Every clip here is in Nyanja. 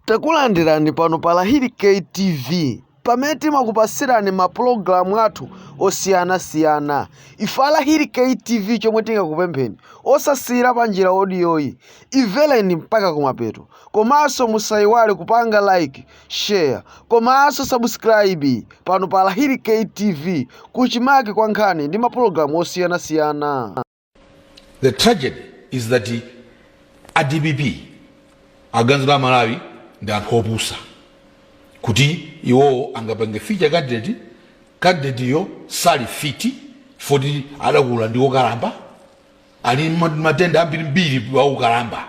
Takulandirani pano pa Lahiri K TV pamene timakupasirani ma program athu osiyana siyana ife a Lahiri K TV chomwe tingakupempheni osasiyira panjira odiyoyi imvereni mpaka kumapeto komanso musayiwale kupanga like share komanso subscribe pano pa Lahiri K TV kuchimake kwa nkhani ndi ma program osiyana siyana The tragedy is that a dpp aganiza amalawi ndi anthu opusa kuti iwowo angapange feature candidate candidate yo sali fit foti adakula ndi okalamba ali ndi matenda ambirimbiri a ukalamba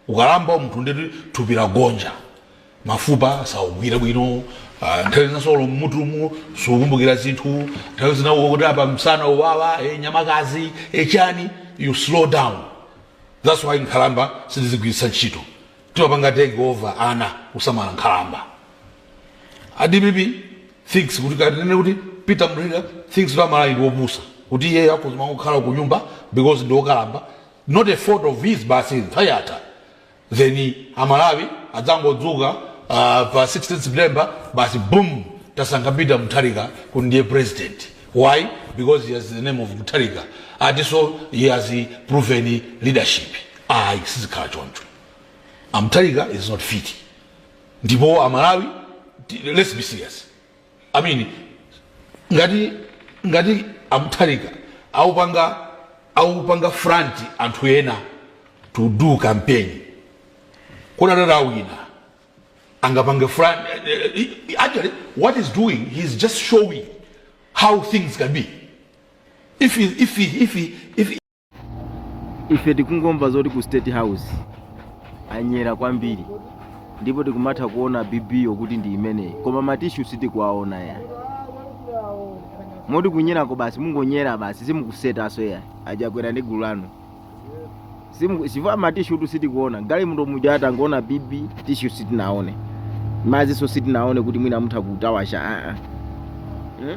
Ukalamba munthu ndiye kuti thupi lagonja, mafupa saugwira bwino, ah, nthawi zina so mmutumu sukumbukira zinthu, nthawi zina ukuti apa msana uwawa, eh, nyamakazi, eh, chani, you slow down. That's why nkhalamba sitizigwiritsa ntchito. Timapanga take over ana kusamala nkhalamba. A DPP thinks kuti kanene kuti Peter Mutharika thinks kuti amalawi ndi opusa kuti iye akuzima kukhala ku nyumba because ndi okalamba not a fault of his basi nthawi yatha then amalawi adzangodzuka ah, pa 16 september basi boom tasankha peter mutharika kuti ndiye president why because he has the name of mutharika atiso he has proven leadership ayi sizikhala choncho amutharika is not fit ndipo amalawi ti- let's be serious I mean, ngati ngati amutharika aupanga aupanga front anthu ena to do campaign kodi atati awina angapange front eh, eh, eh, actually what is doing he is just showing how things can be if he, if he, if he, if he, ife tikungomva zoti ku state house anyera kwambiri ndipo tikumatha kuona bibiyo kuti ndi imeneyi koma matishu sitikuwaona ya moti kunyerako basi mungonyera basi simukusetaso ya achakwera ndi gulu lanu Simu- chifukwa matishu tu sitikuona gali munthu muja atangoona bibi tishu sitinaone maziso sitinaone kuti mwina mutha kutawasha aa mm?